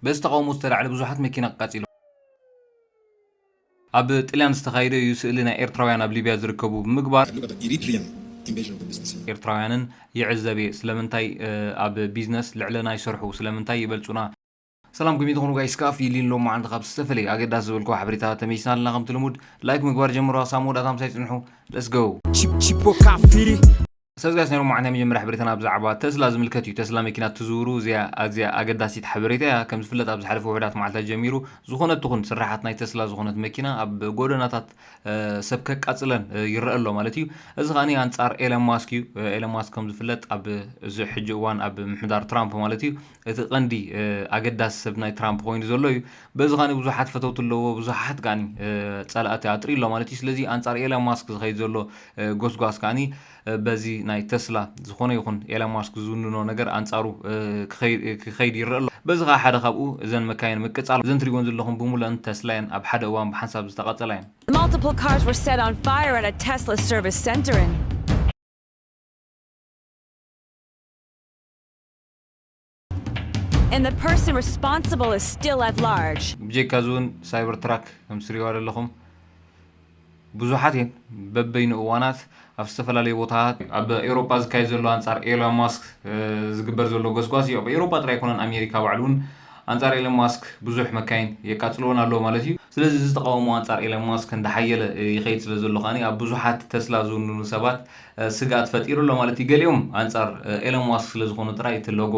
በዚ ተቓውሞ ዝተላዕለ ብዙሓት መኪና ኣቃጺሎም። ኣብ ጥልያን ዝተኻየደ እዩ ስእሊ ናይ ኤርትራውያን ኣብ ሊብያ ዝርከቡ ብምግባር። ኤርትራውያንን ይዕዘብ እየ ስለምንታይ ኣብ ቢዝነስ ልዕለና ይሰርሑ ስለምንታይ ይበልጹና። ሰላም ከመይ ትኾኑ ጋይስ ካፍ ይሊን ሎም መዓልቲ ካብ ዝተፈለየ ኣገዳሲ ዝበልኩ ሓበሬታ ተመይስና ኣለና ከምቲ ልሙድ ላይክ ምግባር ጀምሩ ኣሳብ መወዳእታ ምሳይ ጽንሑ let's go። ቺፖ ካፍ ፊሪ። ሰዝጋስ ነይሩ እሞ ዓንታይ መጀመርያ ሕበሬታና ብዛዕባ ተስላ ዝምልከት እዩ ተስላ መኪና ትዝውሩ እዚኣ ኣዝያ ኣገዳሲት ሓበሬታ እያ ከም ዝፍለጥ ኣብ ዝሓለፈ ውሑዳት መዓልታት ጀሚሩ ዝኾነት ትኹን ስራሓት ናይ ተስላ ዝኾነት መኪና ኣብ ጎደናታት ሰብ ከቃጽለን ይረኣ ኣሎ ማለት እዩ እዚ ከኣ ኣንጻር ኤለን ማስክ እዩ ኤለን ማስክ ከም ዝፍለጥ ኣብ እዚ ሕጂ እዋን ኣብ ምሕዳር ትራምፕ ማለት እዩ እቲ ቀንዲ ኣገዳሲ ሰብ ናይ ትራምፕ ኮይኑ ዘሎ እዩ በዚ ካኒ ብዙሓት ፈተውቲ ኣለዎ ብዙሓት ካኒ ጸላእቲ ኣጥሪ ኣሎ ማለት እዩ ስለዚ ኣንጻር ኤላ ማስክ ዝኸይድ ዘሎ ጎስጓስ ካኒ በዚ ናይ ተስላ ዝኾነ ይኹን ኤላ ማስክ ዝውንኖ ነገር ኣንጻሩ ክኸይድ ይረአ ኣሎ በዚ ከዓ ሓደ ካብኡ እዘን መካይን ምቅጻል እዘን ትሪእወን ዘለኹም ብሙለን ተስላ እየን ኣብ ሓደ እዋን ብሓንሳብ ዝተቃጸላ እየን Multiple cars were set on fire at a Tesla service center in And the person responsible is still at large. ብጀካ እዚ እውን ሳይበር ትራክ ከም ትሪእዋ ዘለኹም ብዙሓት እየን በበይኑ እዋናት ኣብ ዝተፈላለዩ ቦታታት ኣብ ኤውሮጳ ዝካየድ ዘሎ ኣንጻር ኤሎን ማስክ ዝግበር ዘሎ ጎስጓስ እዩ ኣብ ኤውሮጳ ጥራይ ኣይኮነን ኣሜሪካ ባዕሉ እውን ኣንጻር ኤሎን ማስክ ብዙሕ መካይን የቃጽልዎን ኣለዎ ማለት እዩ ስለዚ እዚ ተቃውሞ ኣንጻር ኤሎን ማስክ እንዳሓየለ ይኸይድ ስለ ዘሎ ከኣ ኣብ ብዙሓት ተስላ ዝውንኑ ሰባት ስግኣት ፈጢሩ ኣሎ ማለት እዩ። ገሊኦም ኣንጻር ኤሎን ማስክ ስለ ዝኾኑ ጥራይ እቲ ሎጎ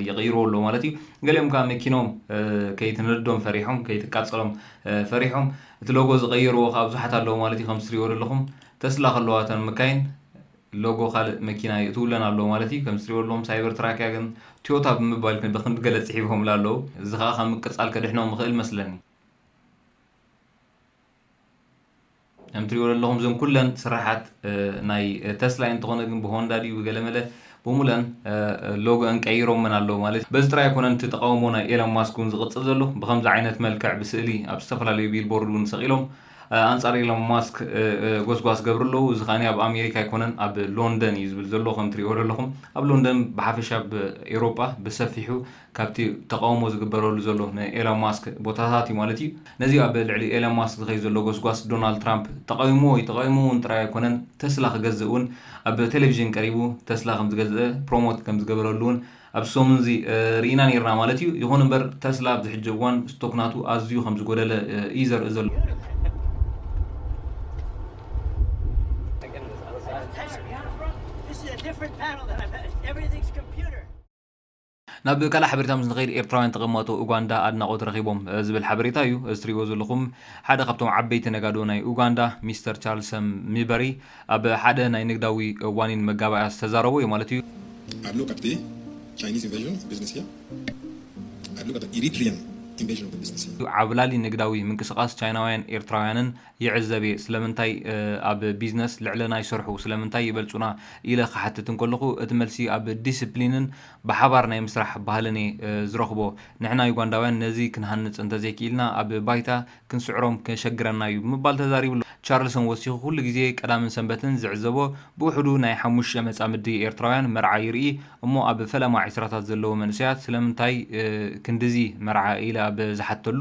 ይቕይርዎ ኣለዉ ማለት እዩ። ገሊኦም ከኣ መኪኖም ከይትነድዶም ፈሪሖም፣ ከይትቃጸሎም ፈሪሖም እቲ ሎጎ ዝቐየርዎ ከኣ ብዙሓት ኣለዉ ማለት እዩ። ከምቲ ትሪእዎ ዘለኹም ተስላ ከለዋ እተን መካይን ሎጎ ካልእ መኪና ይእትውለን ኣለዉ ማለት እዩ። ከምቲ ትሪእዎ ዘለኹም ሳይበር ትራክ እያ ግን ትዮታ ብምባል ግን ብኽንዲ ገለ ጽሒፎምላ ኣለዉ። እዚ ከኣ ካብ ምቅጻል ከድሕኖም ይኽእል መስለኒ። ከም ትሪእዎ ዘለኹም እዞም ኩለን ስራሓት ናይ ተስላ እንተኾነ ግን ብሆንዳ ድዩ ብገለመለ ብሙለን ሎጎአን ቀይሮመን ኣለዉ ማለት በዚ ጥራይ ኣይኮነን እቲ ተቃውሞ ናይ ኤሎን ማስክ እውን ዝቕጽል ዘሎ ብከምዚ ዓይነት መልክዕ ብስእሊ ኣብ ዝተፈላለዩ ቢልቦርድ እውን ሰቒሎም ኣንጻር ኤሎን ማስክ ጎስጓስ ገብሩ ኣለዉ እዚ ከኣ ኣብ ኣሜሪካ ኣይኮነን ኣብ ሎንደን እዩ ዝብል ዘሎ ከም ትሪእዎ ዘለኹም ኣብ ሎንደን ብሓፈሻ ኣብ ኤውሮጳ ብሰፊሑ ካብቲ ተቓውሞ ዝግበረሉ ዘሎ ናይ ኤሎን ማስክ ቦታታት እዩ ማለት እዩ። ነዚ ኣብ ልዕሊ ኤሎን ማስክ ዝኸይድ ዘሎ ጎስጓስ ዶናልድ ትራምፕ ተቓዊምዎ እዩ። ተቓዊምዎ'ውን ጥራይ ኣይኮነን፣ ተስላ ክገዝእ እውን ኣብ ቴሌቪዥን ቀሪቡ ተስላ ከም ዝገዝአ ፕሮሞት ከም ዝገበረሉ'ውን ኣብዚ ሰሙን'ዚ ርኢና ኔርና ማለት እዩ። ይኹን እምበር ተስላ ኣብዚ ሕጂ እዋን ስቶክ ናቱ ኣዝዩ ከም ዝጎደለ እዩ ዘርኢ ዘሎ። ናብ ካልእ ሓበሬታ ምስ ንኸይድ ኤርትራውያን ተቐማጦ ኡጋንዳ ኣድናቖት ረኺቦም ዝብል ሓበሬታ እዩ። እዚ ትርእይዎ ዘለኹም ሓደ ካብቶም ዓበይቲ ነጋዶ ናይ ኡጋንዳ ሚስተር ቻርልሰ ሚበሪ ኣብ ሓደ ናይ ንግዳዊ ዋኒን መጋባእያ ዝተዛረቦ እዩ ማለት እዩ። ኣብ ሎቀጥቢ ቻይኒዝ ኢንቨዥን ኦፍ ቢዝነስ እያ ኣብ ሎቀጥቢ ኢሪትሪያን ኢንቨዥን ኦፍ ቢዝነስ እያ። ዓብላሊ ንግዳዊ ምንቅስቓስ ቻይናውያን ኤርትራውያንን ይዕዘብ እየ። ስለምንታይ ኣብ ቢዝነስ ልዕለና ይሰርሑ፣ ስለምንታይ ይበልጹና ኢለ ክሓትት እንከለኹ፣ እቲ መልሲ ኣብ ዲሲፕሊንን ብሓባር ናይ ምስራሕ ባህልን እየ ዝረኽቦ። ንሕና ዩጋንዳውያን ነዚ ክንሃንጽ እንተዘይክኢልና ኣብ ባይታ ክንስዕሮም ከሸግረና እዩ ብምባል ተዛሪቡ ኣሎ። ቻርልሰን ወሲኹ ኩሉ ግዜ ቀዳምን ሰንበትን ዝዕዘቦ ብውሕዱ ናይ ሓሙሽተ መጻምዲ ኤርትራውያን መርዓ ይርኢ እሞ ኣብ ፈለማ ዕስራታት ዘለዉ መንእሰያት ስለምንታይ ክንድዚ መርዓ ኢለ ኣብ ዝሓትተሉ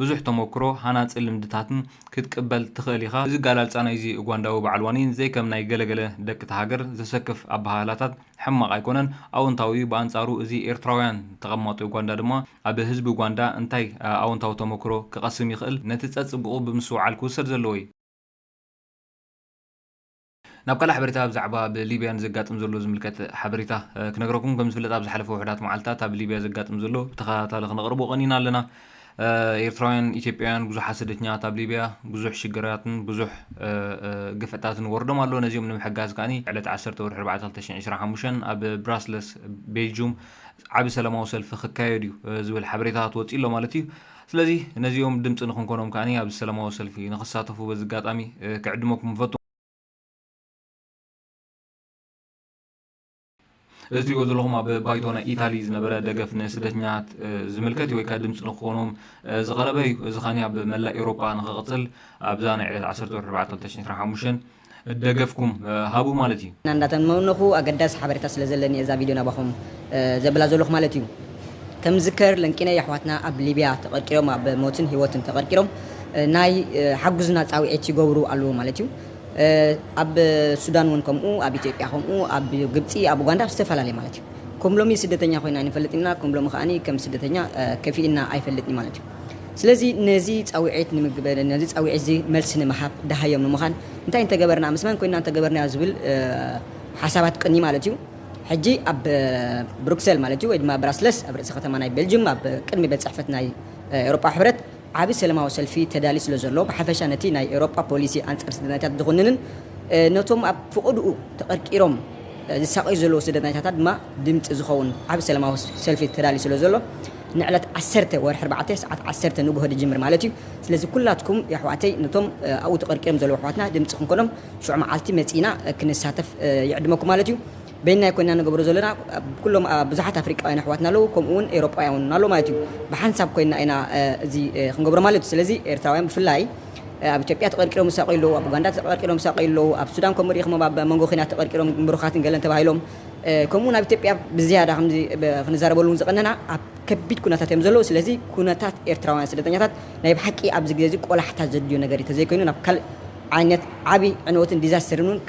ብዙሕ ተሞክሮ፣ ሃናጺ ልምድታትን ክትቅበል ትኽእል ኢኻ። እዚ ኣገላልጻ ናይዚ ኡጋንዳዊ በዓል ዋኒን ዘይከም ናይ ገለ ገለ ደቂ'ታ ሃገር ዘሰክፍ ኣበሃህላታት ሕማቕ ኣይኮነን፣ ኣወንታዊ'ዩ፣ ብኣንጻሩ እዚ ኤርትራውያን ተቐማጦ ኡጋንዳ ድማ ኣብ ህዝቢ ኡጋንዳ እንታይ ኣወንታዊ ተሞክሮ ክቐስም ይኽእል ነቲ ጸጽቡቑ ብምስትውዓል ክውሰድ ዘለዎ'ዩ። ናብ ካልእ ሓበሬታ ብዛዕባ ኣብ ሊብያ ንዘጋጥም ዘሎ ዝምልከት ሓበሬታ ክነግረኩም ከም ዝፍለጥ ኣብ ዝሓለፈ ውሕዳት መዓልትታት ኣብ ሊብያ ዘጋጥም ዘሎ ብተኸታታሊ ክነቕርቦ ቀኒና ኣለና ኤርትራውያን ኢትዮጵያውያን ብዙሓት ስደተኛታት ኣብ ሊብያ ብዙሕ ሽግራትን ብዙሕ ግፍዕታትን ወርዶም ኣሎ ነዚኦም ንምሕጋዝ ከኣ ዕለት 1 ወርሒ 4 2025 ኣብ ብራስለስ ቤልጁም ዓቢ ሰላማዊ ሰልፊ ክካየድ እዩ ዝብል ሓበሬታታት ወፂ ኣሎ ማለት እዩ ስለዚ ነዚኦም ድምጺ ንኽንኮኖም ከኣ ኣብዚ ሰላማዊ ሰልፊ ንኽሳተፉ በዚ ኣጋጣሚ ክዕድመኩም እፈቱ። እዚ ትሪእዎ ዘለኹም ኣብ ባይቶ ናይ ኢታሊ ዝነበረ ደገፍ ንስደተኛታት ዝምልከት እዩ ወይ ከዓ ድምፂ ንክኾኖም ዝቐረበ እዩ። እዚ ኸኒ ኣብ መላእ ኤውሮጳ ንክቕፅል ኣብዛ ናይ ዕለት 14 ኣርባዕተ ክልተ ሽሕን ዕስራን ሓሙሽተን ደገፍኩም ሃቡ ማለት እዩ። እና እንዳተመነኹ ኣገዳሲ ሓበሬታ ስለ ዘለኒ እየ እዛ ቪድዮ ናባኹም ዘብላ ዘለኹ ማለት እዩ። ከም ዝዝከር ለንቂነይ ኣሕዋትና ኣብ ሊብያ ተቐርቂሮም ኣብ ሞትን ሂወትን ተቐርቂሮም ናይ ሓጉዝና ጻውዒት ይገብሩ ኣለዉ ማለት እዩ። ኣብ ሱዳን ውን ከምኡ ኣብ ኢትዮጵያ ከምኡ ኣብ ግብጺ ኣብ ኡጋንዳ ኣብ ዝተፈላለየ ማለት እዩ። ከም ሎሚ ስደተኛ ኮይና ኣይንፈልጥን ኢና ከም ሎሚ ከኣ ከም ስደተኛ ከፊእና ኣይፈልጥን እዩ ማለት እዩ። ስለዚ ነዚ ጻውዒት ንምግ ነዚ ጻውዒት እዚ መልሲ ንምሃብ ደሃዮም ንምዃን እንታይ እንተገበርና ምስ መን ኮይንና እንተገበርናዮ ዝብል ሓሳባት ቅኒ ማለት እዩ ሕጂ ኣብ ብሩክሰል ማለት እዩ ወይ ድማ ብራስለስ ኣብ ርእሲ ከተማ ናይ ቤልጅዩም ኣብ ቅድሚ ቤት ጽሕፈት ናይ ኤውሮጳዊ ሕብረት ዓቢ ሰለማዊ ሰልፊ ተዳልዩ ስለ ዘሎ ብሓፈሻ ነቲ ናይ ኤውሮጳ ፖሊሲ ኣንጻር ስደተኛታት ዝኹንንን ነቶም ኣብ ፍቕድኡ ተቐርቂሮም ዝሳቐዩ ዘለዉ ስደተኛታት ድማ ድምጺ ዝኸውን ዓቢ ሰለማዊ ሰልፊ ተዳልዩ ስለ ዘሎ ንዕለት ዓሰርተ ወርሒ ኣርባዕተ ሰዓት ዓሰርተ ንጉሆ ድጅምር ማለት እዩ ስለዚ ኩላትኩም የሕዋተይ ንቶም ኣብኡ ተቀርቂሮም ዘለዉ ኣሕዋትና ድምጺ ክንኮኖም ሽዑ መዓልቲ መጺና ክንሳተፍ ይዕድመኩም ማለት እዩ በይንና ኣይኮንና ንገብሮ ዘሎና ኩሎም ብዙሓት ኣፍሪቃውያን ኣሕዋትና ኣለዉ ከምኡ ውን ኤሮጳውያን ውን ኣሎ ማለት እዩ ብሓንሳብ ኮይንና ኢና እዚ ክንገብሮ ማለት እዩ ስለዚ ኤርትራውያን ብፍላይ ኣብ ኢትዮጵያ ተቀርቂሮም ዝሳቀዩ ኣለዉ ኣብ ኡጋንዳ ተቀርቂሮም ዝሳቀዩ ኣለዉ ኣብ ሱዳን ከምኡ ርኢኹሞም ኣብ መንጎ ኩናት ተቀርቂሮም ምሩኻትን ገለን ተባሂሎም ከምኡውን ኣብ ኢትዮጵያ ብዝያዳ ከምዚ ክንዛረበሉ እውን ዝቐነና ኣብ ከቢድ ኩነታት እዮም ዘለዉ ስለዚ ኩነታት ኤርትራውያን ስደተኛታት ናይ ብሓቂ ኣብዚ ግዜ እዚ ቆላሕታ ዘድልዮ ነገር እዩ ተዘይኮይኑ ናብ ካልእ ዓይነት ዓቢ ዕንወትን ዲዛስተርን እውን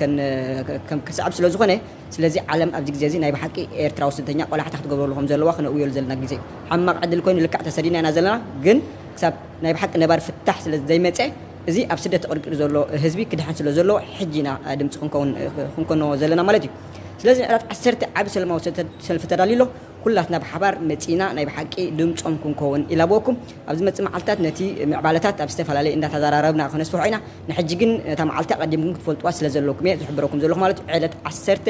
ክስዕብ ስለ ዝኾነ ስለዚ ዓለም ኣብዚ ግዜ እዚ ናይ ብሓቂ ኤርትራዊ ስደተኛ ቆላሕታ ክትገብረሉ ከም ዘለዋ ክነእውየሉ ዘለና ግዜ ሕማቕ ዕድል ኮይኑ ልክዕ ተሰዲና ኢና ዘለና ግን ክሳብ ናይ ብሓቂ ነባሪ ፍታሕ ስለ ዘይመፀ እዚ ኣብ ስደት ተቐርቂሩ ዘሎ ህዝቢ ክድሕን ስለ ዘለዎ ሕጂ ኢና ድምጺ ክንከውን ክንኮኖ ዘለና ማለት እዩ። ስለዚ ንዕለት ዓሰርተ ዓቢ ሰለማዊ ሰልፊ ተዳልዩ ኣሎ። ኩላትና ብሓባር መጺእና ናይ ብሓቂ ድምጾም ክንኮውን ይላበወኩም። ኣብ ዝመጽእ መዓልታት ነቲ ምዕባለታት ኣብ ዝተፈላለየ እንዳተዛራረብና ከነስፍሖ ኢና። ንሕጂ ግን ነታ መዓልቲ ኣቐዲምኩም ክትፈልጥዋ ስለ ዘለኩም እየ ዝሕብረኩም ዘለኹ ማለት እዩ። ዕለት ዓሰርተ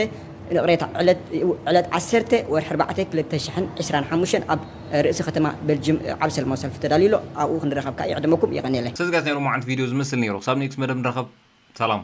ይቕሬታ ዕለት ዕለት ዓሰርተ ወርሒ ኣርባዕተ ክልተ ሽሕን ዕስራን ሓሙሽተን ኣብ ርእሲ ከተማ በልጅም ዓቢ ሰለማዊ ሰልፊ ተዳልዩ ኣሎ ኣብኡ ክንራከብ ካኣ ይዕደመኩም የቀንየለይ። ሰዝጋት ናይ ሎማዓንቲ ቪድዮ ዝመስል ነይሩ ክሳብ ኔክስ መደብ ንራኸብ ሰላም።